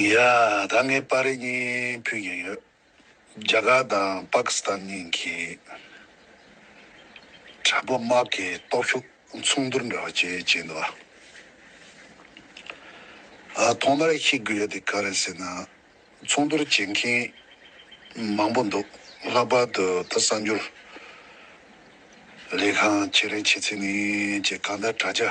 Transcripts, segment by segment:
ཡ། ད་ངས་པར་རིས་གཉིས་ཕུལ་གྱིན་ཡོད། རྒྱ་གར་དང་པཱ་ཀི་སི་ཐན་གཉིས་ཀྱི་དྲ་འབུ་དམག་གི་སྟོབས་ཤུགས་མཚུངས་བསྡུར་འདྲ་བ་བྱས་བྱས་འདུག་ཨ། ཐོག་མར་ཤེས་དགོས་ཡོད་དེ་ག་རེད་ཟེར་ན། མཚུངས་བསྡུར་བྱེད་མཁན་མང་པོ་འདུག་ལྷག་པར་དུ་ད་གསར་འགྱུར་ལས་ཁང་ཁྱེད་རའི་བྱེད་ཚིག་ནི་ཅེས་གང་ལྟར་དྲ་རྒྱ།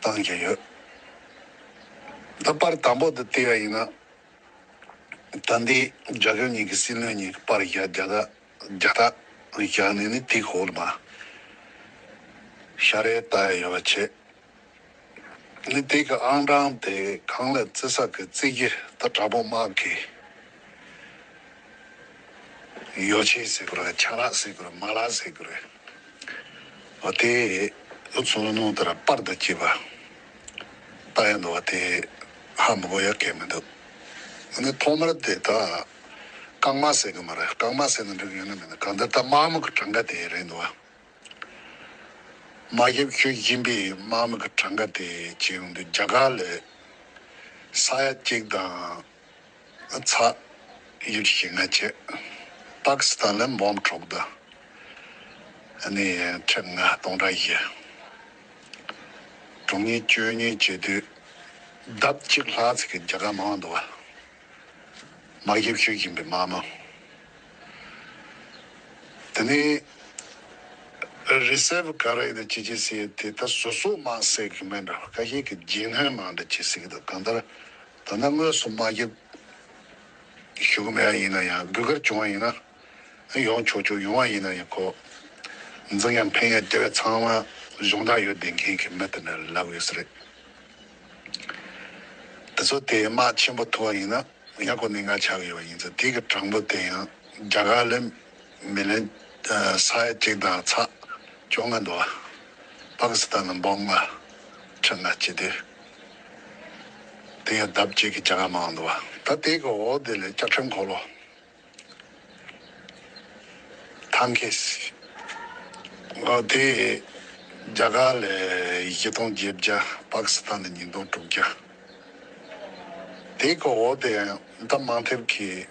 བཏང་བཞིན་ཡོད། ད་བར་དང་པོ་དེ་བལྟས་པ་ཡིན་ན། ད་ལྟའི་རྒྱ་གར་གཉིས་ཀྱི་སྲིད་བློན་གཉིས་ཀྱི་བར་བཞག་རྒྱ་རྟགས་བཞག་ནས་ནི་དེ་གོ་ལ་མ་ཤར་རེད་ལྟ་ཡོད་པ་ཆེ། ནི་དེ་གི་ཨང་གྲངས་དེ་གང་ལ་བརྩི་ས་གི་བརྩི་རྒྱུ་ད་དྲག་པོ་སྨྲ་གི་ཡོད་ཆེ་ཟེར་གི་རེད་ཆང་རག་ཟེར་གི་རེད་མ་རག་ཟེར་གི་རེད། བ་དེ། ཨུ་ཚུགས་བླུན་རྨོངས་ལྟར་པར་དུ་བགྱིས་པ། རྟ་ཡང་འདུ་བ་དེ། ཧ་མི་གོ་ཡ་གད་མི་འདུག། འོ་ན་ཐོག་མར་དེ་དག་རྐང་མ་ཟེར་གི་མ་རེད་རྐང་མ་ཟེར་ན་འགྲིག་ཡོད་ན་མེད་ན་གང་འདི་ད་དམག་མི་གི་གྲངས་ཀ་དེ་རེད་འདུག་བ། དམག་ཞབས་ཁྱོད་སྦྱིན་པའི་དམག་མི་གི་གྲངས་ཀ་དེ་ཇི་ཡོང་འདུག་རྒྱ་གར་ལས། ས་ཡ་གཅིག་དང། ཚ། ཡུལ་གྱི་ང་རྒྱལ། པཱ་ཀི་སི་ཐན་ལ་འབོམ་ཕྲུག་དུ། ནི་ཁྲི་ལྔ་སྟོང་ཕྲག་བཞི། དྲུག་གཉིས་བཅུ་གཉིས་བཅུ་དུས། ལྡབ་གཅིག་ལྷག་ཚིག་གི་རྒྱ་གར་མང་དུ་བ། མ་གཞི་བཞུགས་བཞིན་པའི་མ་མོ། དེ་ནི། རི་སེར་བུ་ག་རེ་དང་ཅི་ཅི་སེ་དེ་ལྟར་སོ་སོ་མ་སེར་གྱི་སྨན་འདྲ་བ་ཀ་ཤས་ཀྱི་རྗེས་སྣོན་མ་འདྲ་ཅི་སེ་གི་དང་གང་ལྟར་ད་ནི་དངོས་སུ་མ་བརྒྱབ། ཞུ་གི་མེད་ཡིན་ན་ཡང་སྒུལ་ཁར་བྱུང་བ་ཡིན་ན། ཡོང་ཆོག་ཆོག་ཡོང་བ་ཡིན་ན་ཡང་ཁོག་འཛིང་ཡང་ཕན་ཡང་དེ་བས་ཚང་མ་གཞུང་དྲང་ཡོད་བདེན་མཁན་གྱི་མི་དེ་འདྲ་ལབ་ཡོད་ས་རེད། དེ་ཚོ་དེའི་དམག་ཆེན་པོ་ཐུབ་བ་ཡིན་ན་ཡང་ཁོ་ནི་ང་ཆགས་ཡོད་པ་ཡིན་ཚེ་དེ་གི་དྲང་པོ་དེ་ཡང་རྒྱ་གར་ལས་མི་ལེན། ས་ཡ་གཅིག་དང་ཚ་བཅོ་ལྔ་འདུ་བ། པ་ཀི་སི་ཐན་ལ་འབོག་ལྔ་ཁྲི་ལྔ་སྤྱི་འདུས། དེ་ཡང་ལྡབ་གཅིག་གི་བྱ་དགའ་མང་འདུ་བ། ད་དེ་གི་འོག་དེ་ལས་བསྐྱར་ཕྲེང་འཁོར་ལོ། ཐང་ཁེ་སི། འོག་དེ་བྱ་དགའ་ལས་བཞི་སྟོང་བརྒྱད་བརྒྱ་པ་ཀི་སི་ཐན་ལ་ཉིས་སྟོང་དྲུག་བརྒྱ། དེ་གི་འོག་དེ་ཡང་ད་མང་ཐེབས་ཀྱི།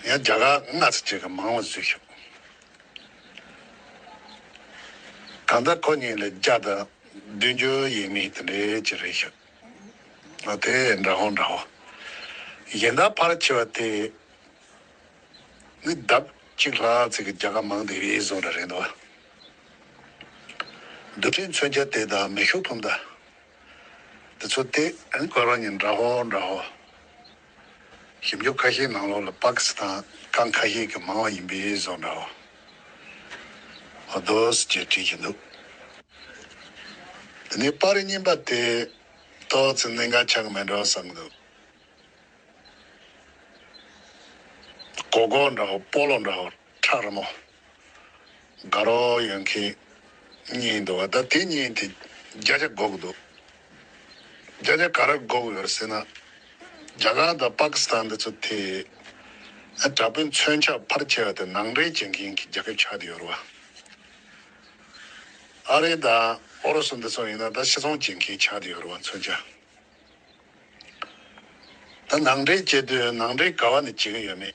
ངས་རྒྱ་གར་སྔགས་རྩིས་ཅན་གྱི་མང་བ་བཟོས་ཤིང། གང་ལྟར་ཁོ་གཉིས་ལ་བརྒྱ་དང་བདུན་ཅུ་ཡས་མས་དེ་འདྲའི་ཅིག་རེད་ཤག་ཨ་དེ་འདྲ་ཧོ་འདྲ་ཧོ། གཞན་དག་ཕར་ཆེ་བ་དེ་ནི་ལྡབ་གཅིག་ལྷག་ཚིག་གི་རྒྱ་གར་མང་དེ་རེ་བཟུང་འདྲ་རེད་འདུག། རྡུལ་ཕྲན་མཚོན་ཆ་དེ་དང་མེ་ཤུགས་འཕུམ་མདའ་དེ་ཚོ་སྟེ། ཁོ་རང་གཉིས་འདྲ་ཧོ་འདྲ་ཧོ། ཞིབ་འཇུག་ཁ་ཤས་ནང་ལོགས་ལ་པཱ་ཀི་སི་ཐན་ཀང་ཁ་ཤས་ཀྱི་མང་བ་ཡིན་པས་བཟོ་འདྲ་བ་འདུག་ཅེས་བྲིས་ཀྱི་འདུག་འདི་ནས་པཱ་རི་རྙིང་པ་དེ་ཏོག་ཙེ་གནད་འགག་ཆགས་ཀྱི་མེད་འདྲ་བ་བསམ་གི་འདུག་གོ་གོ་འདྲ་བ་པོ་ལོ་འདྲ་བ། ཁྲག་རི་མོ། དགའ་རོགས་ཡོད་མཁན་གཉིས་འདུག་བ་ད་དེ་གཉིས་དེ་བརྒྱ་ཆ་འགོག་འདུག་བརྒྱ་ཆ་ག་ར་འགོག་ཡོད་ཟེར་ན། རྒྱ་གར་དང་དཔའ་ཁི་སི་ཐན་འདི་ཚོ་དེ་ཨ་དྲ་པོའི་མཚོན་ཆ་ཕར་ཁྱེར་བ་དེ་ནང་འདྲེན་བྱེད་མཁན་གྱི་རྒྱ་ཁྱབ་ཆགས་དེ་ཡོད་རུ་བ། ཨ་རི་དང་ཨོ་རོ་སུ་འདི་ཚོ་ཡིན་ན་ད་ཕྱི་ཚོང་བྱེད་མཁན་ཆགས་དེ་ཡོད་རུ་བ་མཚོན་ཆ་ད་ནང་འདྲེན་བྱེད་དུས་ནང་འདྲེན་ག་བ་ནས་བྱེད་ཀྱི་ཡོད་མེད་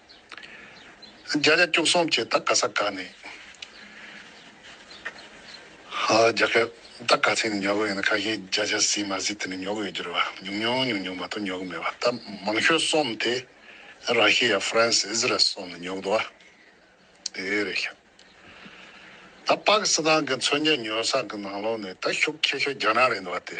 བརྒྱ་ཆ་བཅུ་གསུམ་བཅས་ད་ག་ས་ག་ནས་རྒྱག་གི་ད་ག་ཚད་ནས་ཉོ་གི་ཡོད་ན་ཁ་ཤས་བརྒྱ་ཆ་ཟིན་མ་ཟིན་དེ་ནས་ཉོ་གི་ཡོད་རྒྱུར་བ་ཉུང་ཉུང་ཉུང་ཉུང་མ་གཏོགས་ཉོ་གི་མེད་བ་ད་མང་ཤོས་སོམས་དེ་ར་ཤི་ཡ་ཧྥ་རན་སི་ཨི་ཟི་རལ་སོགས་ནས་ཉོ་གི་འདུག་བ་དེ་རེད་ཤག་ད་པ་ཀི་སི་ཐན་གི་མཚོན་ཆ་ཉོ་ས་གི་ནང་ལོགས་ནས་ད་ཤུགས་ཆེ་ཤོས་རྒྱ་ནག་རེད་འདུག་བ་དེ།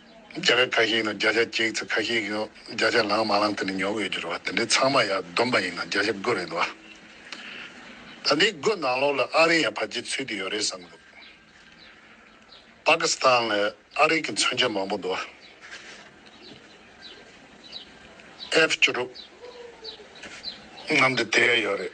བརྒྱ་ཆ་ཁ་ཤས་ནི་བརྒྱ་ཆ་གཅིག་ཚེ་ཁ་ཤས་ཀྱིས་བརྒྱ་ཆ་ལངས་མ་ལངས་དེ་ནི་ཉོ་དགོས་ཀྱི་རེད་བ་དེ་འདྲའི་ཚང་མ་ཡ་བསྡོམས་པ་ཡིན་ན་བརྒྱ་ཆ་དགུ་རེད་བ། ད་འདི་དགུ་ནང་ལོགས་ལ་ཨ་རི་ཡང་བབས་ཀྱི་ཚུལ་དུ་ཡོད་རེད་བསམ་འདུག་པ་ཀི་སི་ཐན་ལ་ཨ་རིག་གི་མཚོན་ཆ་མང་པོ་འདུག་བ། F བཅུ་དྲུག་རྣམས་དེ་དེ་ཡོད་རེད།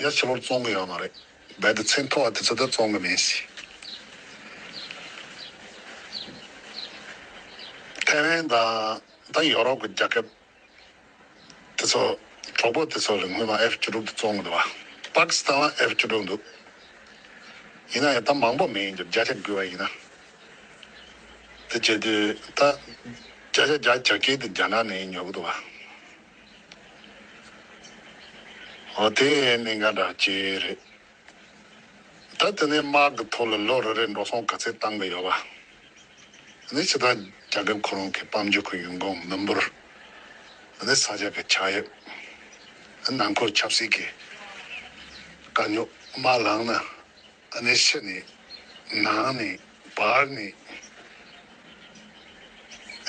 ཡར་ཕྱི་ལོར་བཙོང་གི་ཡོད་མ་རེད། རྦད་དེ་ཚེ་མཐོ་བ་དེ་ཚོ་དེ་བཙོང་གི་མིན་སྲིད། ཐའེ་ཝན་དང་དང་ཡོ་རོབ་གི་རྒྱ་ཁབ་དེ་ཚོ་གྲོགས་པོ་དེ་ཚོ་རིང་མིན་ལ F བཅུ་དྲུག་དེ་བཙོང་གི་འདུག་བ། པ་ཀི་སི་ཐན་ལ F བཅུ་དྲུག་འདུག་ཡིན་ན་ཡང་ད་མང་པོ་མིན་རྒྱུ་བརྒྱ་ཆ་དགུ་བ་ཡིན་ན། དེ་བྱེད་དུས་ད་བརྒྱ་ཆ་བརྒྱ་བརྒྱ་སྐྱེལ་དུ་རྒྱ་ནག་ནས་ཉོ་གི་འདུག་བ། ཨོ་དེ་ནི་འགའ་འདྲ་སྐྱེ་རེད། ད་དེ་ནས་དམག་གི་ཐོག་ལ་ལོ་རེ་རེར་འགྲོ་སོང་ག་ཚད་བཏང་གི་ཡོད་པ། ནི་ཕྱི་ཐང་རྒྱ་ཁབ་ཁོ་རང་གི་དཔའ་མཇུག་གི་ཡུལ་འགོང་མི་འབོར། ནི་ས་ཆ་གི་ཆག་དབྱིབས། ནི་ནང་ཁུལ་ཆབ་སྲིད་ཀྱི་དཀའ་རྙོག་མ་ལངས་ན། ནི་ཕྱི་ནས་ནང་ནས་བར་ནས། ནི་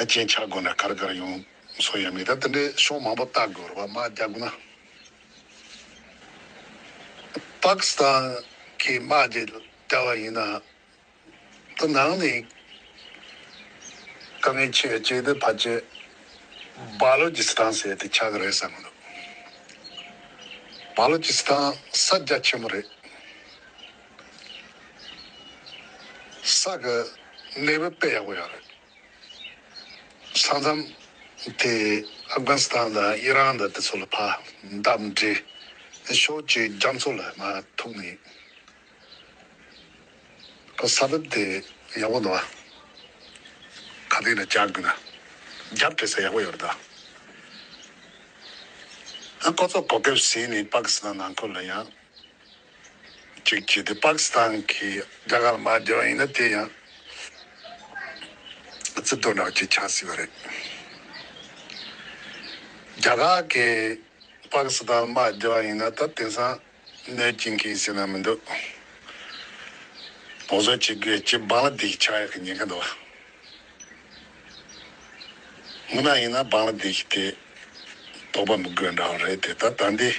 རྐྱེན་ཆག་དགོས་འདྲ་གར་གར་ཡོང། ཚོ་ཡང་མི་ད་ལྟ་འདྲའི་ཤོག་མང་པོ་བཏགས་དགོས་རོགས་མ་རྒྱག་གོ་ན། པཱ་ཀི་སི་ཐན་གྱི་དམག་དེ་བསྐྱལ་བ་ཡིན་ན་ད་ནང་ནས་དཀའ་ངལ་ཆེ་བས་ཅི་ད་བར་བྱེད་བཱ་ལོ་ཇི་སི་ཐན་ཟེར་དེ་ཆགས་ཀྱི་རེད་བསམ་གྱི་འདུག་བཱ་ལོ་ཇི་སི་ཐན་ས་རྒྱ་ཆེན་པོ་རེད། ས་གི་གནས་བབ་དཔེ་ཡག་པོ་ཡང་རེད། ས་མཚམས་དེ་ཨབ་གྷན་སི་ཐན་དང་ཨི་རན་དང་དེ་ཚོ་ལ་ཕར་འདབས་མི་འབྲི་ཤོག་ཅེས་རྒྱ་མཚོ་ལ་མ་ཐུག་ནས་ཁོ་ས་བབ་དེ་ཡག་པོ་འདུག་ག་དེ་ན་བཅར་དགོས་ན་རྒྱབ་སྤྲད་ས་ཡག་པོ་ཡོད་རེད་ད། ཨ་ཁོ་ཚོ་གོ་སྐབས་ཟིན་ནས་པ་ཀི་སི་ཐན་ནང་ཁུལ་ལ་ཡང་གཅིག་བྱས་ཏེ་པཱ་ཀི་སི་ཐན་གྱི་རྒྱ་གར་མ་བསྒྱུར་བ་ཡིན་ན་དེ་ཡང་རྩིས་དོར་ནག་ཅིག་ཆགས་སྲིད་པ་རེད། རྒྱ་གར་གྱིས་པཱ་ཀི་སི་ཐན་མ་བསྒྱུར་བ་ཡིན་ན་ད་དེང་སང་གནོད་སྐྱིན་གྱི་སེམས་ན་མི་འདུག། བོགས་གསོད་བྱེད་དགོས་ཀྱི་འབངས་ལ་དེ་ཞིག་ཆགས་ཡག་གི་ཉེན་ཁ་འདུག། མུན་ནག་ཡིན་ན་འབངས་ལ་བདེ་སྐྱིད་དེ་རྟོགས་པ་མི་དགོས་འདྲ་བ་རེད་དེ་ད་ལྟ་འདི་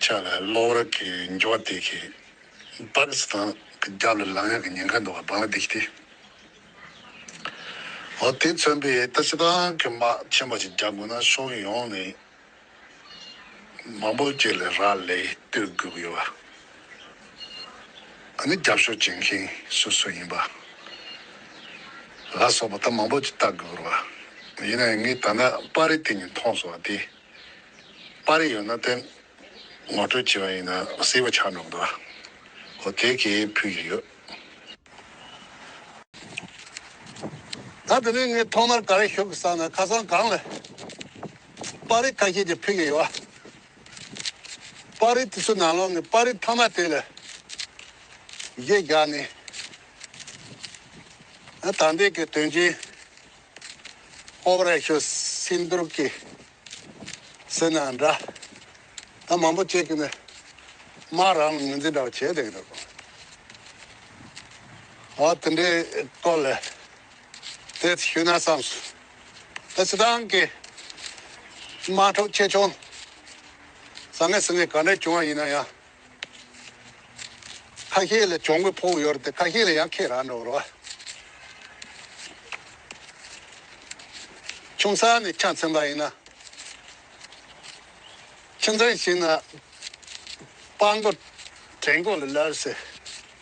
ཆགས་ལ་གློ་བུར་གྱི་འགྱོག་བདེ་གི་པ་ཀི་སི་ཐང་གི་རྒྱབ་ལ་ལངས་ཡག་གི་ཉེན་ཁ་འདུག་བ་འབངས་ལ་བདེ་སྐྱིད་དེ་འོ་དེ་མཚོན་པའི་ཏི་སི་ཐང་གི་དམག་ཆེན་པོ་ཞིག་རྒྱག་དགོས་ན་ཕྱོགས་ཡོངས་ནས་མང་པོ་བཅས་ལས་རག་ལས་གཏོད་དགོས་ཀྱི་ཡོད་པ། ཨ་ནི་རྒྱབ་ཤོག་བྱེད་མཁན་སོ་སོ་ཡིན་པ། ལ་སོགས་པ་ད་མང་པོ་ཅིག་བལྟ་དགོས་ཀྱི་ཡོད་པ། ཡིན་ན་ཡང་ངས་ད་ནས་པར་རིས་དེ་གཉིས་མཐོང་སོང་བ་དེ། པར་རིས་ཡོད་ན་དེ་ངོ་སྤྲོད་བྱེད་པ་ཡིན་ན་གཟིགས་པ་ཆགས་འགྲོ་གི་འདུག་ཨོ་དེ་གས་ཕུད་ཀྱི་ཡོད། ད་དེ་ནས་ངས་ཐོག་མར་ག་རེ་ཞུ་དགོས་བསམ་ན་ཁ་སང་གངས་ལ་པར་རིས་ཁ་ཤས་ཀྱིས་ཕུལ་གྱི་ཡོད། པར་རིས་དེ་ཚོའི་ནང་ལོགས་ནས་པར་རིས་ཐ་མ་དེ་ལ་གཞས་བཞག་ནས། དར་འདེགས་ཀྱི་དོན་ཆེན Operation Sindoor གྱི་ཟེར་ན་འདྲ། ད་མང་པོ་བྱས་ཀྱི་ནི་མ་རང་ལ་ངོས་འཛིན་འདྲ་བོ་བྱས་བསྡད་ཀྱི་འདུག། འོ་དེ་འདྲའི་སྐོར་ལ། དེ་ཞུས་ན་བསམས་སོ། ཨེ་སི་ཏང་གི་དམག་འཁྲུག་ཆེ་ཆུང་ཟ་མི་ཟ་མི་ག་འདྲ་བྱུང་བ་ཡིན་ན་ཡང། ཁ་ཤས་ལ་གྱོང་གུད་ཕོག་ཡོད་དེ་ཁ་ཤས་ལ་ཡང་ཁེ་རག་འགྲོ་རོགས། ཆུང་ས་ནས་ཆ་འཚེམ་པ་ཡིན་ན། ཁྱིམ་ཚང་ཞིག་ན་དཔང་པོ་དྲན་དགོས་ལ་ལར་སེ་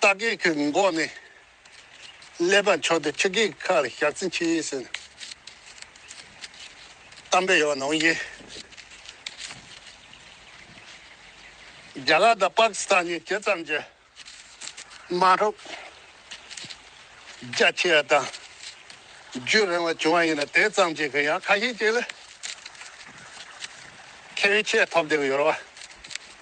རྟ་སྒེག་གི་མགོ་ནས་ཀླད་པ་འཕྱོ་སྟེ་ཁྱི་སྒེག་ཁ་ལ་ཞག་ཚིལ་འཁྱིལ་ཟེར་ནས་གཏམ་དཔེ་ཡོད་ནོ། རྒྱ་གར་དང་པཱ་ཀི་སི་ཐན་གཉིས་དེ་ཙམ་གྱིས་མ་འགྲུབ། རྒྱ་ཆེ་བ་དང་རྒྱུད་རིང་བ་བྱུང་བ་ཡིན་ན་དེ་ཙམ་གྱིས་ཀྱང་ཁ་ཤས་ཀྱིས་ལ་ཁེ་བའི་ཆེད་ཐོབ་བསྡད་ཡོད་རེད་བ།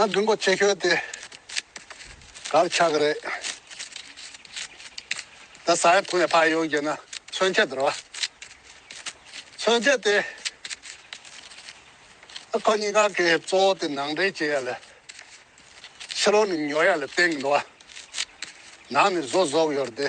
ཨ་མདུན་པོ་ཆེ་ཁྱོད་དེ་གར་ཆགས་ཀྱི་རེད། ད་ས་ཡ་དྲུག་ནས་ཕར་ཡོང་རྒྱུ་ན་མཚོན་ཆ་དེར་བ། མཚོན་ཆ་དེ་ཨ་ཁོ་གཉིས་ཀ་གི་གཙོ་བོ་དེ་ནང་འདྲེན་བྱེད་ཡ་ལ་ཕྱི་ལོག་ནས་ཉོ་ཡ་ལ་བསྟན་གྱི་འདུག་བ། ནང་ནས་བཟོ་བཟོ་གི་ཡོད་རེད་དེ།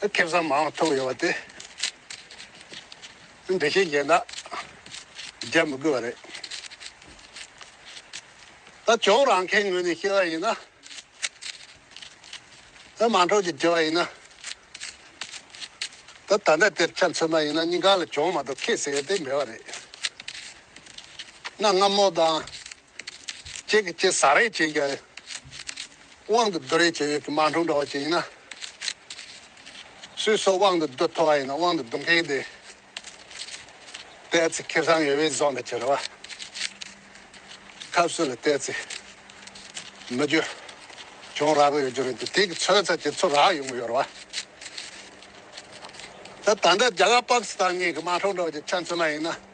སྐལ་བཟང་མང་བ་ཐོབ་ཡོང་བ་དེ་འདི་བཞིན་བཞེས་ན་རྒྱག་མི་དགོས་པ་རེད། ད་གྱོང་རང་ཁའི་ངོས་ནས་བཤད་པ་ཡིན་ན། ད་མང་གྲོགས་ཀྱིས་བྱས་པ་ཡིན་ན། ད་ད་ལྟ་དེར་ཆ་མཚོན་པ་ཡིན་ན་སྙིང་ག་ལ་གྱོང་མ་གཏོགས་ཁེ་ཟེར་ཡ་དེ་མེད་པ་རེད། གནའ་སྔ་མོ་དང་ཁྱེད་ཀྱི་ཁྱེད་ཟ་རེས་བྱེད་ཀྱི་དབང་དུ་བསྡུ་རེས་བྱེད་ཡོད་ཀྱི་མ་འཁྲུངས་འདྲ་བ་ཅིག་ཡིན་ན། སུས་སོགས་དབང་དུ་བསྡུ་ཐུབ་པ་ཡིན་ན་དབང་དུ་བསྡུ་མཁན་དེ་བལྟས་ཚེ་ཁེ་བཟང་ཡོད་པའི་ཟོག་འདྲ་ཅིག་རེད་བ། ཐབས་སུ་ལ་བལྟས་ཚེ་མི་རྒྱུ་བྱུང་རག་ཡོད་རྒྱུ་རེད་འདུག་དེ་གི་ཚོད་ཚ་གྱི་ཚུར་རག་ཡོང་གི་ཡོད་རེད་བ། ད་ད་འདྲ་རྒྱ་གར་པག་སི་ཐང་གཉིས་ཀྱི་མ་འཁྲུངས་འདྲ་བ་ཅིག་ཆ་མཚོན་ན་ཡིན་ན།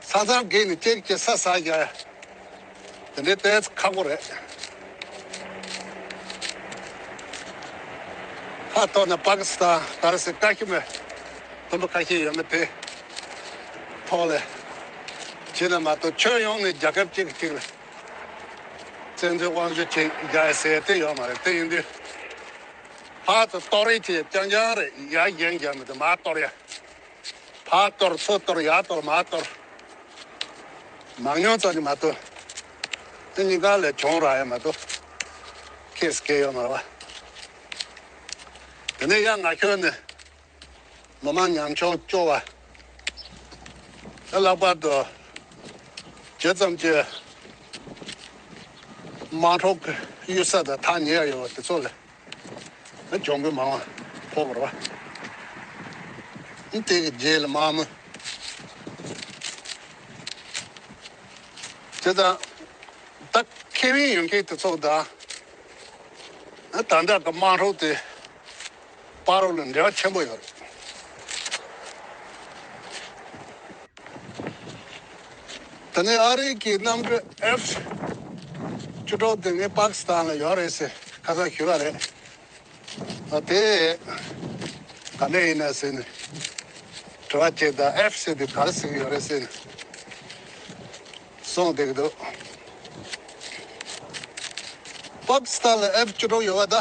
ས་གཙང་སྒེག་ནི་སྐྱེས་སྐྱེས་ས་ས་རྒྱ། དེ་འདྲའི་དཔལ་ཁ་སྒོ་རེད། ཁ་གཏོར་ན་པ་ཀི་སི་ཐན་ད་ར་སི་ཀ་ཤི་མི། དུམ་བུ་ཁ་ཤས་ཡོད་མེད་དེ་ཐོག་ལས། བྱས་ན་མ་གཏོགས་ཁྱོན་ཡོངས་ནས་རྒྱ་ཁབ་གཅིག་གི་སྟེང་ལ། བཙན་འཛུལ་དབང་བཞུ་བྱེད་རྒྱ་ཡི་ཟས་དེ་ཡོད་མ་རེད་དེ་ཡིན་དུས། ལྷག་ཏུ་གཏོར་རེས་བྱེད་རྒྱ་རྒྱང་རེད་ཡ་རྒྱན་རྒྱ་མི་དེ་མ་གཏོར་ཡ། ཕག་གཏོར་མཚོ་གཏོར་ཡག་གཏོར་མ་གཏོར། མང་ཉུང་ཙམ་གྱིས་མ་གཏོར། འདི་གཉིས་ཀ་ལས་གྱོང་རག་ཡང་མ་གཏོར། ཁེས་སྐལ་ཡོད་མ་བར། དེ་ནས་གཡག་ནག་ཁྱོད་ནི། ལོ་མ་ཉམས་ཆུང་སྐྱོ་བ། དེ་ལྷག་པར་དུ། བྱེད་ཙམ་གྱིས། དམངས་ཁྲོད་གཡུལ་ས་དང་ཐག་ཉེ་ཡ་ཡོད་པ་དེ་ཚོ་ལས། གྱོང་གུད་མང་བ་ཕོག་པར་བ། སྟེང་གི་རྗེས་ལ་དམར་མོ། དེ་དང་ད་ཁེ་ཝིན་ཡོན་ཁེ་ཏི་ཚོགས་དང་ད་དྲག་གི་དམངས་ཧྲོག་དེ་པར་རོ་ལ་འབྲེལ་བ་ཆེན་པོ་ཡོད་རེད། ད་ནི་ཨ་རིག་གི་གནམ་གྲུ F བཅུ་དྲུག་དེ་ངས་པཱ་ཀི་སི་ཐན་ལ་ཡོད་རེད་ཟེར་ཁ་ཚ་ཞུས་པ་རེད། ཨ་དེ་ག་ནས་ཡིན་ནས་ཟེར་ནས་དྲི་བ་བྱས་ད F ཟེར་དེ་ག་རེ་ཟེར་གི་ཡོད་རེད་ཟེར་ནས་གསུངས་བསྡད་ཀྱི་འདུག་པཱ་ཀི་སི་ཐན་ལ F བཅུ་དྲུག་ཡོད་པ་ད་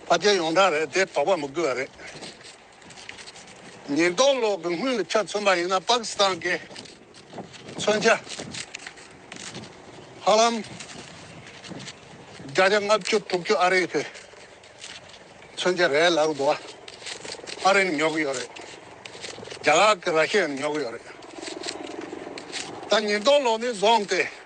ཕ་རྒྱལ་ཡོངས་གྲགས་རེད་དེ་དོགས་པ་མི་དགོས་པ་རེད། ཉེན་རྟོག་གློག་གི་དངུལ་ལ་ཆ་མཚོན་པ་ཡིན་ན་པ་ཀི་སི་ཐན་གྱི་མཚོན་ཆ་ཧ་ལམ་བརྒྱ་ཆ་ལྔ་བཅུ་དྲུག་ཅུ་ཨ་རིའི་མཚོན་ཆ་རེད་ལབ་དགོས། ཨ་རིའི་ཉོ་གི་ཡོད་རེད། རྒྱ་གར་གྱི་ར་ཤི་ཡའི་ཉོ་གི་ཡོད་རེད། ད་ཉེན་རྟོག་གློག་ནི་བཟོ་འམ་སྟེ།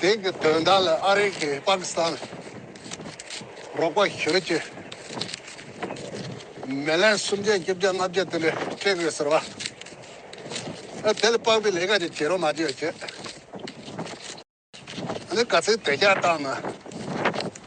དེང་གི་དོན་དག་ལ་ཨ་རི་གིས་པཱ་ཀི་སི་ཐན་ལ་རོགས་པ་ཞུ་ཆེད། མེ་ལན་སུམ་བརྒྱ་བཅུ་བརྒྱ་ལྔ་བརྒྱ་དེ་འདྲ་སྤྲད་དགོས་ཟེར་བ། དེ་ལ་དཔག་པའི་ལས་ཀ་ཅིག་བྱེད་རོགས་མ་བྱོས་བྱས། ག་ཚོད་དོད་ཤག་བཏང་ན།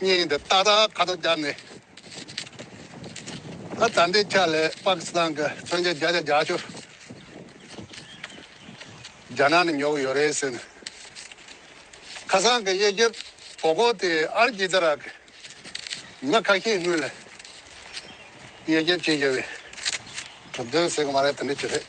སྙིང་འདི་ཏག་ཏག་ཁ་དོག་སྐྱར་ནས། ད་ལྟའི་ཆ་ལས་པ་ཀི་སི་ཐན་གྱི་མཚོན་ཆ་རྒྱ་ཆ་རྒྱ་ཆུ། རྒྱ་ནག་ནས་ཉོ་གི་ཡོད་རེད་ཟེར། ཁ་སང་གི་དབྱེ་ཞིབ་བོ་སྒོ་དེ་ཨར་ཀི་ཙི་ར་གི་མི་ཁ་ཤས་དངུལ་ལ་དབྱེ་ཞིབ་བྱེད་བཞིན་པའི་གྲུབ་དོན་ཟེར་གི་མ་རེད་དེ་འདྲ་བྱེད་རེད།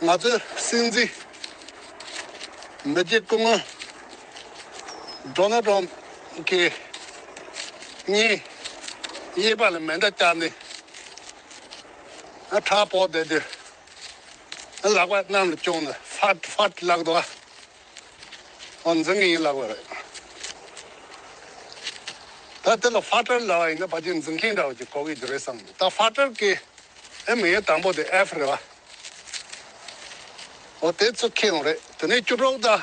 ང་ཚོའི་སྲིད་འཛིན་མི་རྗེ་སྐུ་ངོ་འགྲོ་ན་འགྲོ་གི་གཉིས་གཡས་པ་ལ་མེ་མདའ་བཅག་ནས་ཁྲག་ཕོག་བསྡད་དུས་ལག་པ་གནམ་ལ་བཅོང་ནས་ཧྥ་ཧྥ་ལག་ཏུ་ཨོ་འཛིན་གྱི་ཡིན་ལབ་པ་རེད། ད་དེ་ལ་ཧྥ་ཀྲར་ལབ་པ་ཡིན་ན་ཕ་རྒྱུད་འཛིན་མཁན་འདྲ་བོ་ཅིག་གོ་གི་རེད་བསམ་འདུག་ད་ཧྥ་ཀྲར་ཀྱི་ཨེ་མི་ཡོད་དང་པོ་དེ་ཨེཕ་རེད་བ། ཨོ་དེ་ཚོ་ཁེ་ཡོང་རེད་དེ་ནས་བཅུ་དྲུག་དང།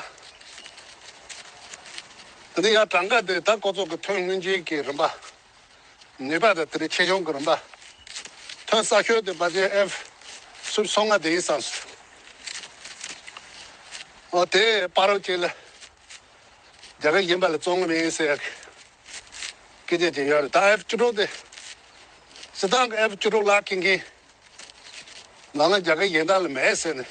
དེ་ནས་ཡར་གྲངས་ཀ་དེ་ད་ཀོ་ཚོགས་ཀྱི་ཐོན་དངོས་འཇལ་གྱི་རིམ་པ། ནུས་པ་དང་དེ་ལས་ཆེ་ཆུང་གི་རིམ་པ། ཐོན་བསགས་ཤོས་དེ་སྦ་ཆེན་ཨེ་སུར་སོ་ལྔ་དེ་ཡིན་བསམས་སོ། འོ་དེ་སྤ་རོ་གཅིག་ལ་རྒྱ་གར་གཞན་པ་ལ་བཙོང་གི་མིན་ཟེར་ཡག་གི་སྐད་ཆ་དེ་ཡོད་རེད་ད་ཨེ་བཅུ་དྲུག་དེ་སི་ཏང་གི་ཨེ་བཅུ་དྲུག་ལག་འཁེལ་མཁན་ནང་ན་རྒྱ་གར་གཞན་དག་ལ་མེད་ཟེར་ནས་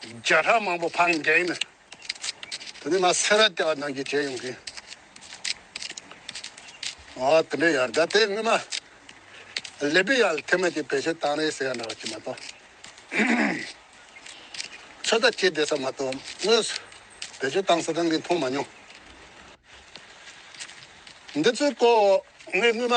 བརྒྱ་ཕྲག་མང་པོ་འཕང་བརྒྱའི་ནི། དེ་ནས་ང་སེ་ར་སྐྱ་བ་ནང་གི་བྱས་ཡོང་གིན། ཨ་དེ་འདྲའི་ཡར་ཟླ་དེའི་སྔོན་མ། ལེ་པི་ཡཱལ་ཐེ་མ་ཅིག་བེད་སྤྱོད་བཏང་རེས་ཟེར་ཡ་འདྲ་བ་ཅིག་མ་གཏོགས། ཚོད་ལྟ་བྱེད་བསྡད་ས་མ་གཏོགས་དངོས་སུ་བེད་སྤྱོད་བཏང་ས་གང་གི་མཐོང་མ་མྱོང། འདི་ཚོའི་སྐོར་ངས་སྔོན་མ།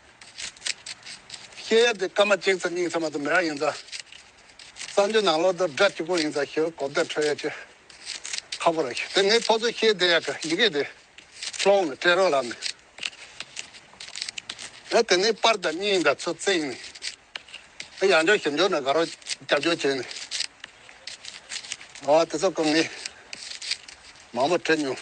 གཤེད་ཡབ་ཀྱི་སྐར་མ་གཅིག་ཙམ་སྙིང་ཚད་མ་དུ་མི་རག་ཡིན་ཙང། གསང་འདུས་ནང་ལོགས་དུ་སྒྲ་གཅིག་པོ་ཡིན་ཙང་ཞེས་གོ་བརྡ་འཕྲོད་ཡ་ཆེ། ཁ་པོ་ར་ཤི་དེ་ངའི་ཚོགས་གཙོ་གཤེད་དེ་ཡབ་ཀྱི་ཡི་གེ་དེ་ལྷོ་འོང་ནས་སྤྲད་རོགས་ལབ་ནས། ཡང་དེ་ནས་པར་དང་སྙིང་དང་ཚུར་བརྩེགས་ནས། ཡང་འབྱོར་ཞིབ་འབྱོར་ནས་དགའ་རོགས་རྒྱབ་སྐྱོར་བྱས་ནས། ཨོ་དེ་ཚོ་ཀུན་ངས་མང་པོ་བྲིས་མྱོང།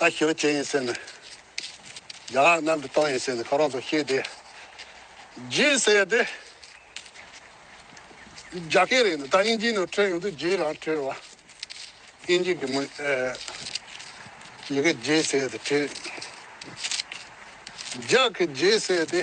ཨ་ཞི་བ་ཅན་ཡིན་ཟེར་ནས། རྒྱ་ནག་གནམ་གྱི་སྟོང་ཡིན་ཟེར་ནས་ཁོ་རང་ཚོ་ཤེས་ཏེ། རྗེ་ཟེར་ཏེ། རྒྱ་སྐད་རེད་ད་དབྱིན་ཇིའི་ནང་འཁྲོལ་ཡོང་དུས་རྗེའི་རང་འཁྲོལ་བ། དབྱིན་ཇི་གི་མི། ཡི་གེ་རྗེ་ཟེར་ཏེ་འཁྲོལ། རྒྱ་གི་རྗེ་ཟེར་ཏེ།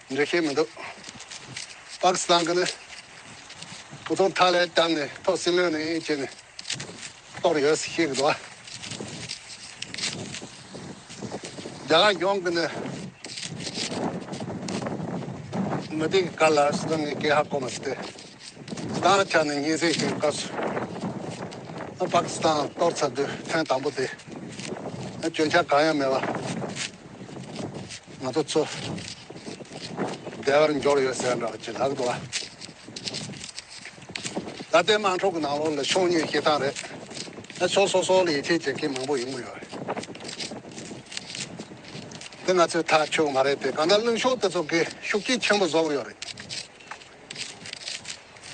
འདྲི་ཤེས་མི་འདུག་པཱ་ཀི་སི་ཐན་གྱི་ནི་བུ་ཆུང་ཐ་ལའི་གཏམ་ནི་ཐོག་སྲིན་ལོའི་ནི་ཡིན་ཅེས་ནི་རྟོགས་རེ་ཡོད་ཟེར་ཤེས་གི་འདུག་རྒྱ་གར་ཡོངས་ཀྱི་ནི་མི་དེ་གི་གར་ལ་སི་ཐན་ནི་སྐད་ཧ་གོ་མ་སི་ཏེ་སི་ཐན་ལ་ཆ་ནི་ཉིན་ཟིག་ཞིག་སྐབས་སུ་པཱ་ཀི་སི་ཐན་གཏོར་ཚར་དུས་ཐེངས་དང་པོ་དེ་ནི་སྐྱོན་ཆ་གང་ཡང་མེད་པ། ང་ཚོ་ཚོ་བདེ་བར་འགྱུར་ཡོད་ཟེར་འདྲ་བ་ཅི་ལགས་འདུག་ཨ། ད་ལྟའི་དམངས་ཁྲོད་ཀྱི་ནང་ལོགས་ལ་ཕྱོགས་གཉིས་སྐྱེལ་སྟངས་རེད། ཕྱོགས་སོ་སོ་ལ་ཡིད་ཆེས་བྱེད་མཁན་མང་པོ་ཡོང་གི་ཡོད་རེད། དེ་ང་ཚོའི་ཐག་ཆོད་མ་རེད་དེ་གང་ལྟར་གླེང་ཕྱོགས་དེ་ཚོ་གིས་ཤུགས་རྐྱེན་ཆེན་པོ་བཟོ་གི་ཡོད་རེད།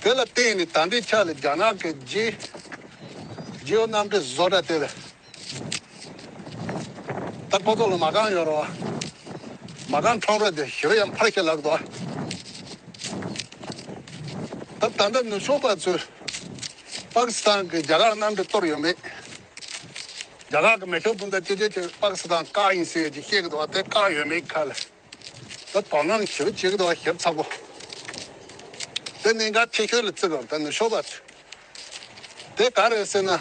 དེ་ལ་བརྟེན་ནས་ད་ལྟའི་ཆ་ལ་རྒྱ་ནག་གི་རྗེའོ་རྣམ་གྲྭའི་བཟོ་གྲྭ་དེ་ལ་ད་ཁོ་ཚོ་ལ་མ་གང་ཡོད་རོགས། མ་གང་འཕྲོག་རོགས་དེ་ཞོ་ཡང་འཕར་ཤེས་ལགས་དོ། ད་ད་ལྟ་ནུ་ཕྱོགས་པ་ཚོས་པ་ཀི་སི་ཐན་གི་རྒྱ་གར་གནམ་གྲུ་གཏོར་ཡོད་མེད། རྒྱ་གར་གི་མེ་ཤོག་སྤུན་ཟླ་ཅི་ཆེ་ཆེ་པ་ཀི་སི་ཐན་བཀག་ཡིན་ཟེར་ཡོད་ཅེས་བཤད་གི་འདུག་བ་དེ་བཀག་ཡོད་མེད་ཁ་ལ། ད་དོ་སྣང་བྱེད་པོ་གཅིག་དང་ཞིབ་ཚགས་པོ། དེ་གནད་འགག་ཐད་ཤོས་ལ་བརྩི་བའམ་ད་ནུ་ཞོ་བར། དེ་ག་རེད་ཟེར་ན།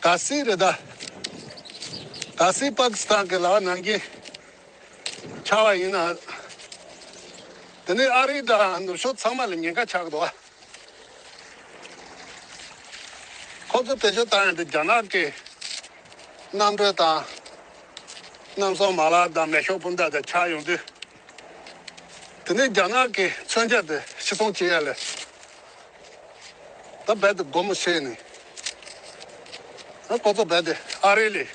ག་སི་རི་དྭགས། ག་སི་པ་ཀི་སི་ཐན་གི་ལག་ནང་གི་ཆ་བ་ཡིན་ནའང། དེ་ནས་ཨ་རིའི་དང་ནུ་ཞོ་ཚང་མ་ལ་ཉེན་ཁ་ཆགས་གི་འདུག་བ། ཁོ་ཚོས་བེད་སྤྱོད་བཏང་ཡོད་པའི་རྒྱ་ནག་གི་གནམ་གྲུ་དང་གནམ་སྲུང་མ་ལག་དང་མེ་ཤོག་སྤུན་ཟླ་དེ་ཆགས་ཡོང་དུས། དེ་ནི་རྒྱ་ནག་གི་མཚོན་ཆ་དེ་ཕྱི་ཚོང་བྱེད་ཡ་ལས་ད་རྦད་དེ་སྒོ་མོ་ཕྱེས་ནས་ཁོ་ཚོ་རྦད་དེ་ཨ་རི་ལས་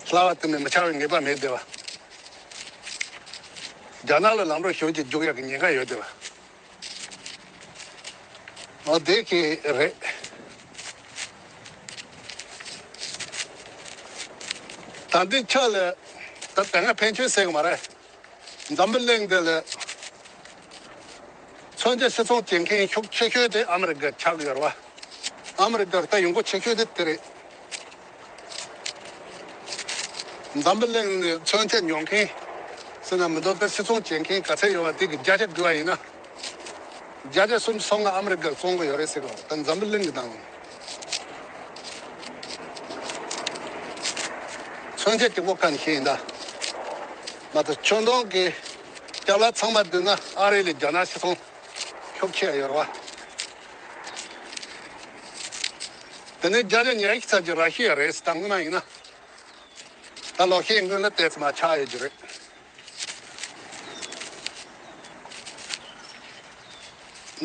སླ་བ་གཏན་ནས་མི་ཆགས་པའི་ངེས་པ་མེད་དེ། རྒྱ་ནག་ལ་ལམ་རོགས་ཞོར་གྱིས་རྒྱུག་ཡ་གི་ཉེན་ཁ་ཡོད་དེ། ང་བདེ་སྐྱིད་རེད། ད་འདི་ཆ་ལས་ད་དེ་སྔ་ཕན་ཆོད་སྲིད་གི་མ་རེད། འཛམ་བུ་གླིང་འདི་ལས། མཚོན་ཆ་ཕྱི་ཚོང་བྱེད་མཁན་ཤུགས་ཆེ་ཤོས་དེ་ཨ་མི་རི་ཀ་ཆགས་ཡོད་རེད་བ། ཨ་མི་རི་ཀར་ད་ཡོང་སྒོ་ཆེ་ཤོས་དེ་དེ་རེད། འཛམ་བུ་གླིང་ནས་མཚོན་ཆ་ཉོ་མཁན། སེམས་ལ་མི་འདོད་པའི་སིལ་ཚོང་བྱེད་མཁན་ག་ཚད་ཡོད་པ་དེ་གི་བརྒྱ་ཆ་དགུ་བ་ཡིན་ན། བརྒྱ་ཆ་གསུམ་སོ་ལྔ་ཨ་མི་རི་ཀར་བཙོང་གི་ཡོད་རེད་ཟེར་བ་ད་འཛམ་བུ་གླིང་གི་དང། མཚོན་ཆ་གཅིག་པོ་ག་ནས་ཤེས་ཡིན་ད། མ་ད་ཆུང་དུང་གི་སྐྱབས་ལག་ཚང་མ་བསྡུས་ན་ཨ་རི་ལས་རྒྱ་ནག་སིལ་ཚོང་ཁྱོ་ཁྱེད་ཡོད་རེད་བ། དེ་ནི་རྒྱ་ལས་ཉེ་གི་ཚད་ཀྱི་ར་ཤི་ཡ་རེད་ཟེར་ད་དངོས་མ་ཡིན་ན། ད་ལོག་ཤེས་མགོན་ལ་བལྟས་ཚེ་མ་ཆགས་ཡོད་རྒྱུ་རེད།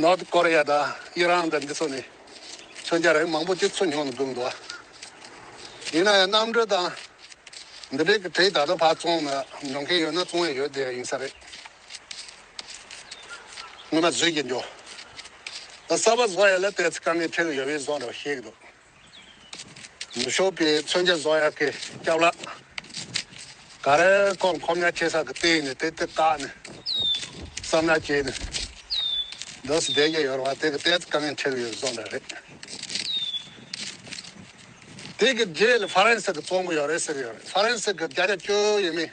North Korea དང་དབྱི་རང་དང་འདི་ཚོ་ནི་མཚོན་ཆ་རེད་མང་པོ་སྤྱི་ཚོགས་ཉུང་ནས་བསྒྲུབས་འདུག་ཡིན་ན་ཡང་རྣམ་གྲོལ་དང་འདི་འདྲས་ཀྱི་གྲས་ད་ལྟ་བར་བཙོང་ནས་འགྲོ་མཁན་ཡོད་ན་བཙོང་ཡས་ཡོད་དེ་ཡིན་ས་རེད། ངོ་མ་བཟོད་ཀྱི་འགྲོ། གསར་པ་བཟོ་ཡ་ལ་དེ་ཚོ་དཀའ་ངལ་འཕྲད་གི་ཡོད་བས་བཟོ་རོགས་བཤད་གི་འདུག་ནུ་ཞོ་པའི་མཚོན་ཆ་བཟོ་ཡ་གི་སྐྱབས་ལགས། ག་རེ་ཀོང་ཁོམ་ཡ་ཆེ་ས་གི་སྟེང་ནས་དེ་དེ་བཀག་ནས། བསམ་ན་བྱས་ནས། འདོད་སེ་བསྡད་ཀྱི་ཡོད་རེད་བ་དེ་གི་དེ་ཚོ་དཀའ་ངལ་འཕྲད་གི་ཡོད་བས་བཟོ་འདྲ་རེད། དེ་གི་རྗེས་ལ་ཧྥ་རན་སི་གི་བཙོང་གི་ཡོད་རེད་ཟེར་གི་ཡོད་རེད་ཧྥ་རན་སི་གི་བརྒྱ་ཆ་བཅུ་ཡིན་མིན།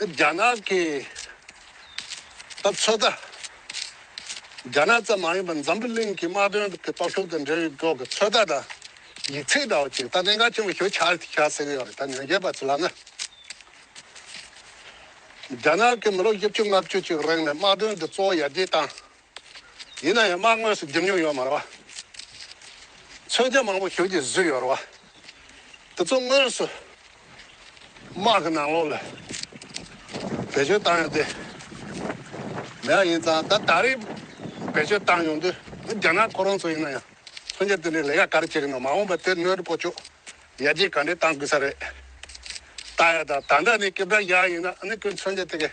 རྒྱ་ནག་གི་ད་ཚོད་ལྟ། རྒྱ་ནག་ཙམ་མ་ཡིན་པར་འཛམ་བུ་གླིང་གི་དམག་དོན་གྱི་སྟོབས་ཤུགས་དང་འབྲེལ་བའི་སྐོར་གྱི་ཚོད་ལྟ་དང་ཡིག་ཚིག་འདྲ་བོ་ཅིག་ད་གནད་འགག་ཆེན་པོ་ཞུ་འཆར་ཟེར་གྱི་ཡོད་རེད་ད་ཉོན་རྒྱལ་པ་ཚོས་ལབ་ན། རྒྱ་ནག་གིས་མི་ལོ་བཞི་བཅུ་ལྔ་བཅུ་ཅིག་རིང་ནས་དམག་དོན་གྱི་གཙོ་བོ་ཡར་རྒྱས་བཏང། ཡིན་ན་ཡང་མར་དངོས་སུ་འདེམས་མྱོང་ཡོད་མ་རེད་བ། མཚོན་ཆ་མང་པོ་ཞུགས་ཏེ་བཟོས་ཡོད་རེད་བ། དེ་ཚོ་དངོས་སུ་དམག་གི་ནང་ལོགས་ལ་བེད་སྤྱོད་བཏང་ཡོང་དུས། མེད་ཡ་ཡིན་ཙང་ད་ད་རེས་བེད་སྤྱོད་བཏང་ཡོང་དུས་འདི་རྒྱ་ནག་ཁོ་རང་ཚོ་ཡིན་ན་ཡང་མཚོན་ཆ་དེ་འདྲའི་ལས་ཀ་ག་རེ་བྱེད་ཀྱི་འདུག་མ་འོངས་པར་དེ་སྣོད་དུ་སྤོ་ཆོག་ཡ་རྗེས་ག་འདྲས་བཏང་དགོས་ས་རེད། ལྟ་ཡ་ད་ད་འདྲ་ནི་སྐྱེ་བྲག་ཡ་ཡིན་ན་ནི་ཁོས་མཚོན་ཆ་དེ་ག་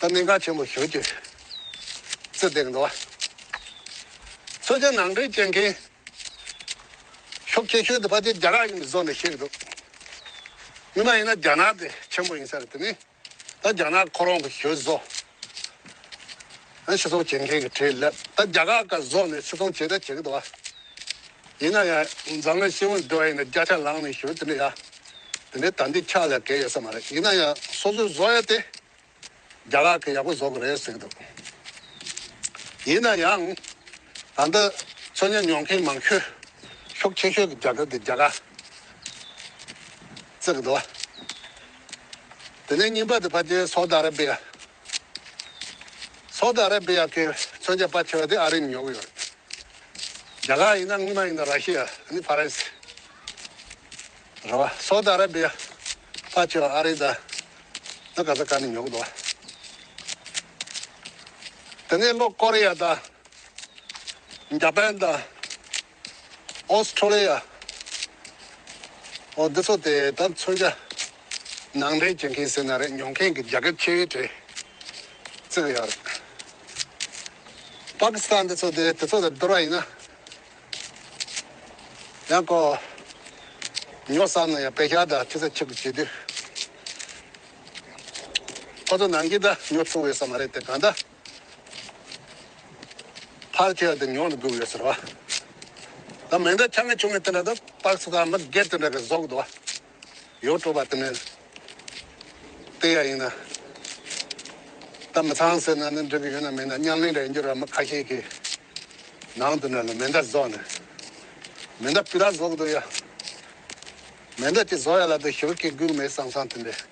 ད་གནད་འགག་ཆེན་པོ་བྱུང་སྐྱེ་ཚུལ་དེར་འགྲོ་བ། མཚོན་བྱེད་ནང་འདྲེན་བྱེད་མཁན་ཤོག་ཁྱེད་ཁྱོད་དེ་ཕ་ཆེ་རྒྱ་གར་ཡིན་པའི་བཟོ་ནས་བཤད་གི་འདུག་མི་མ་ཡིན་ན་རྒྱ་ནག་དེ་ཆེན་པོ་ཡིན་ས་རེད་དེ་ནས་ད་རྒྱ་ནག་ཁོ་རང་གི་ཞོལ་བཟོ་ཨ་ཕྱི་ཚོང་བྱེད་མཁན་གི་གྲས་ལབ་ད་རྒྱ་གར་ཀ་བཟོ་ནས་ཕྱི་ཚོང་བྱེད་ད་བྱེད་གི་འདུག་ཨ། ཡིན་ན་ཡང་འཛམ་གླིང་སྤྱི་བོར་འགྲོ་ཡི་ན་བརྒྱ་ཆ་ལང་ནས་ཞུ་དེ་འདྲ་ཡ། དེ་འདྲའི་དམ་འདི་ཆགས་ལ་དགེ་ཡོད་ས་མ་རེད་ཡིན་ན་ཡང་སོ་སོས་བཟོ་ཡ་སྟེ། རྒྱ་གར་གི་ཡག་པོ་བཟོ་གི་རེད་ཟེར་གི་འདུག་ཡིན་ན་ཡང། ད་ལྟ་ཚོ་ཉོན་མྱོང་མཁན་མང་ཤོས་ཤུགས་ཆེ་ཤོས་ཀྱི་རྒྱ་གར་གྱི་རྒྱལ་ཁ་རྩེད་གི་འདུག་བ། དེ་ནས་རྙིང་པ་དེ་ཕ་རྒྱལ་སོག་ད་ར་བྷི་ཡ། སོག་ཏུ་ཨ་ར་བྷི་ཡ་གི་མཚོན་ཆ་སྤར་ཆེ་བ་དེ་ཨ་རིས་ཉོ་གི་ཡོད། རྒྱ་གར་ཡིན་ན་དངུལ་མ་ཡིན་ན་ར་ཤི་ཡ་ནི་ཕ་རན་སི། རེད་བ། སོག་ཏུ་ཨ་ར་བྷི་ཡ་སྤར་ཆེ་བ་ཨ་རིས་དང་ནི་ག་ས་ཀ་ནས་ཉོ་གི་འདུག་བ། དེ་ནས་ལོ་ཀོ་རི་ཡ་དང་རྒྱ་པན་དང། Australia། འོ་འདི་ཚོ་དེ་ད་མཚོན་ཆ་ནང་འདྲེན་བྱེད་མཁན་ཟེར་ན་རེད་མྱོང་མཁན་གྱི་རྒྱ་སྐད་ཆེ་བའི་གྲས་བརྩི་གི་ཡོད་རེད། Pakistan འདི་ཚོ་དེ་དེ་ཚོ་དང་བསྡུར་བ་ཡིན་ན་ཡང་ཀོ་ཉོ་བསམ་ན་ཡང་བེ་ཤ་དང་ཐི་ས་ཆིག་གི་བྱེད་དུས་ཁོ་ཚོ་ནང་གི་ད་ཉོ་ཐུབ་འོས་ས་མ་རེད་དེ་གང་ལྟ། ཕར་ལྟས་ལ་དེ་མྱོང་དུ་འགྲོ་གི་ཡོད་ཟེར་བ། ད་མེ་མདའི་ཆ་ངས་ཆུང་ངས་དེ་འདྲ་དང་སྟག་ཚི་དང་མི་སྒེར་དེ་འདྲ་གི་ཟོག་དུ་བ། ཡོད་སྤྲོ་བ་དེ་ནས་ལྟས་ཡ་ཡིན་ན། ད་མི་ཚང་ཟེར་ན་ནི་འགྲིག་གི་ཡོད་ན་མིན་ན་ཉམས་ལེན་རེད་འགྱུར་བ་མི་ཁ་ཤས་ཀྱིས་ནང་དུ་ནས་ལ་མེ་མདའ་ཟོག་ནས། མེ་མདའ་སྤུས་དག་ཟོག་དུ་ཡ། མེ་མདའ་དེ་ཟོག་ཡ་ལ་དུ་ཞོལ་གྱི་སྒུག་མེད་སང་སང་དེ་འདྲས།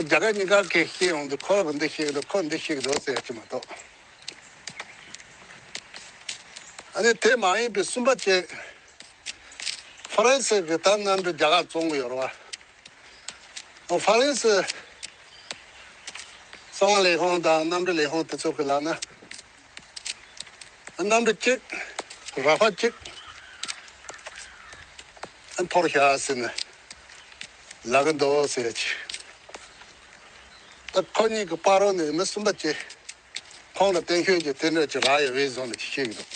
རྒྱ་གར་གཉིས་ཀར་གྱི་ཤེས་ཡོང་དུ་ཁོ་འདི་ཞིག་རེད་ཁོ་འདི་ཞིག་རེད་ཟེར་གྱི་མ་གཏོགས། ཨ་ནི་དེ་མ་ཡིན་པའི་གསུམ་པ་བཅས། ཧྥ་རན་སི་གི་ད་གནམ་གྲུ་རྒྱ་གར་བཙོང་གི་ཡོད་རེད། ཧྥ་རན་སི་གསང་བ་ལས་ཁང་དང་གནམ་གྲུ་ལས་ཁང་དེ་ཚོ་གི་ལག་ན། རྣམ་པ་གཅིག་རགས་པ་གཅིག། འཐོར་ཤ་ཟེར་ན་ལ་གི་མདོག་ཟེར་བ་གཅིག། ད་ཁོ་གཉིས་ཀྱི་དཔའ་རོགས་ནི་མི་གསུམ་པ་བཅས་ཁོང་ལ་བསྟན་ཤོས་ཀྱི་དེ་འདྲ་ཅི་རག་ཡོད་བས་བཟུང་ནས་ཅི་བྱེད་ཀྱི་འདུག་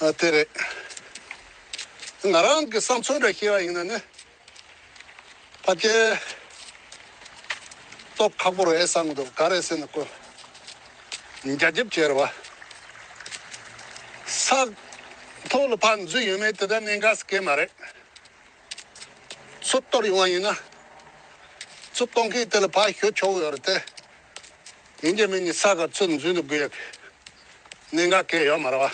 ཨ་དེ་རེད། ང་རང་གི་བསམ་ཚུལ་འདྲ་ཤེས་པ་ཡིན་ན་ནི་ཕ་སྐད། སྟོབས་ཁག་པོ་རེད་བསམ་གྱི་འདུག་ག་རེ་ཟེར་ན་ཀུན། རྒྱ་ཁྱབ་ཁྱེར་བ། ས། ཐོག་ལ་ཕར་འཛུལ་ཡོད་མེད་དེ་དག་གནད་འགག་གི་སྐད་མ་རེད། ཚུར་གཏོར་ཡོང་བ་ཡིན་ན། ཚུར་གཏོང་མཁན་དེ་ལ་ཕར་ཞོད་ཆོག་གི་ཡོད་རེད་དེ། ཡིན་རྒྱུ་མིན་གྱི་ས་ག་ཚུར་འཛུལ་འདུག་དགོས་ཡོད་གི། གནད་འགག་སྐད་ཡོད་མ་རེད་བ།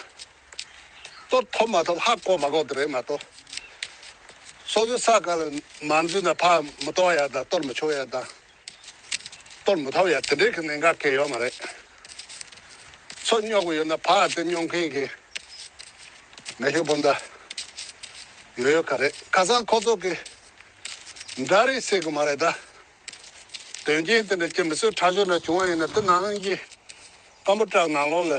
གཏོར་ཐོབ་མ་ཐོབ་ཧ་གོ་མ་གོ་དེ་རེད་མ་གཏོགས། སོ་སོའི་ས་ག་ལ་མ་འཛུལ་ན་ཕག་མི་གཏོང་ཡ་དང་གཏོར་མི་ཆོག་ཡ་དང། གཏོར་མི་ཐོབ་ཡ་དེ་འདྲའི་གི་ནད་འགའ་སྐྱེ་ཡོད་མ་རེད། ཚོ་སྙོག་གི་ཡོད་ན་ཕག་དེ་སྙོག་མཁན་གི་མེ་ཤོག་སྤུན་ཟླ་ཡོད་ཡོད་ག་རེད་ཁ་སང་ཁོ་ཚོ་གི་འདྲ་རེ་བསྲེག་གི་མ་རེད་ད། དོན་རྐྱེན་དེ་འདྲ་སྐྱེ་མི་སྲིད་ཁྲ་ཆུང་འདྲ་བྱུང་བ་ཡིན་ན་དུ་ནང་གི་སྐམ་པོ་སྐྲག་ནང་ལོག་ལ་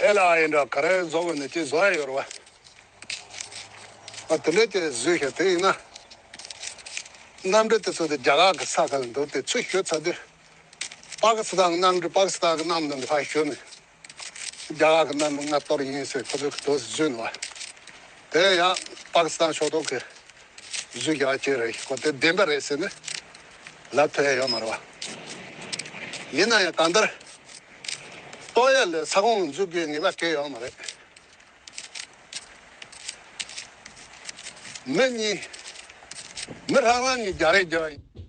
ཨེ་ལ་ཨ་ཡིན་འདྲ་ག་རེ་བཟོ་དགོས་ནས་ཅི་བཟོ་ཡ་ཡོད་རེད་བ། དེ་འདྲ་ཅི་བཟོས་ཤག་དེ་ཡིན་ན། གནམ་གྲུ་དེ་ཚོ་དེ་རྒྱ་གར་གི་ས་ཁ་ལ་འདུག་དེ་ཚུར་བཞུད་ཚར་དུས། པག་སི་ཐང་གི་གནམ་གྲུ་པག་སི་ཐང་གི་གནམ་ལ་འགྲོ་ཤོད་ནས། རྒྱ་གར་གྱི་གནམ་ལྔ་གཏོར་ཡིན་ཟེར་ཁོ་ཚོའི་གྲོས་སུ་བརྫུས་འདུག་བ། དེ་ཡང་པཱ་ཀི་སི་ཐན་ཕྱོགས་གཏོགས་ཀྱི་གཟུགས་ཀྱི་བ་ཅན་རེད་ཤེས་ཁོ་དེ་བདེན་པ་རེད་ཟེར་ནས་ལབ་ཐུབ་ཨེ་ཡོད་མ་རེད་བ། ཡིན་ན་ཡང་གང་ལྟར་ཏོག་དབྱིབས་ལས་ས་ཁོངས་འཛུགས་རྒྱུའི་ངེས་པ་སྐྱེས་ཡོད་མ་རེད། མི་གཉིས་མི་རང་རང་གཉིས་རྒྱ་རིགས་རྒྱ།